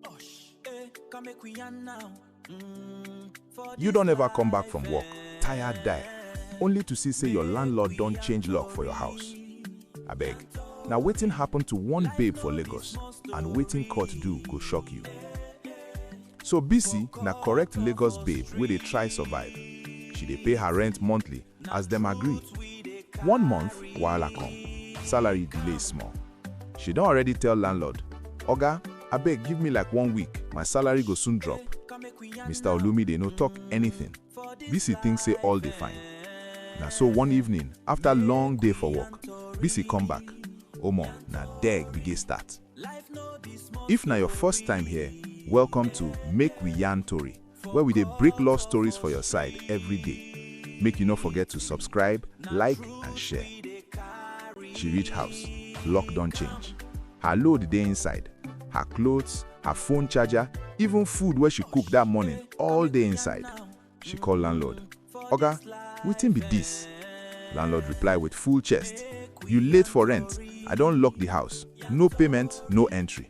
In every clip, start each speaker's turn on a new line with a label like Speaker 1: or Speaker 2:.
Speaker 1: Osh, eh, come make we yarn now. Mm, for You this don't ever come back from life, work, eh. tired die, only to see say your landlord don change lock for your house. Abeg, na wetin happen to one babe for Lagos and wetin court do go shock you. So Bisi na correct Lagos babe wey dey try survive. She dey pay her rent monthly As dem agree, one month wahala come, salary delay small. She don already tell landlord, Oga, abeg give me like one week, my salary go soon drop. Mister Olumide no talk anything, Bisi think say all dey fine. Na so one evening, after long day for work, Bisi come back, omo na there gbege start. If na your first time here, welcome to Make We Yarn Tori. where we dey break love stories for your side every day. Make you no forget to subscribe, like and share. She reach house, lock don change. Her load dey inside. Her clothes, her phone charger, even food wey she cook that morning all dey inside. She call landlord. Oga, wetin be this? Landlord reply with full chest. You late for rent. I don lock the house. No payment, no entry.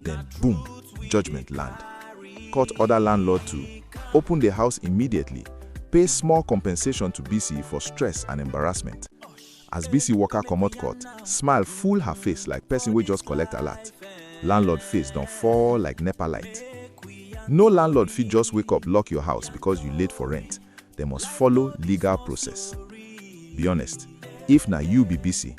Speaker 1: Then, boom, judgment land. Court order landlord to open the house immediately, pay small compensation to Bisi for stress and embarrassment. As Bisi waka comot court, smile full her face like person wey just collect alert. Landlord face don fall like nepa light. No landlord fit just wake up lock your house because you late for rent. Dem must follow legal process. Be honest, if na you be Bisi,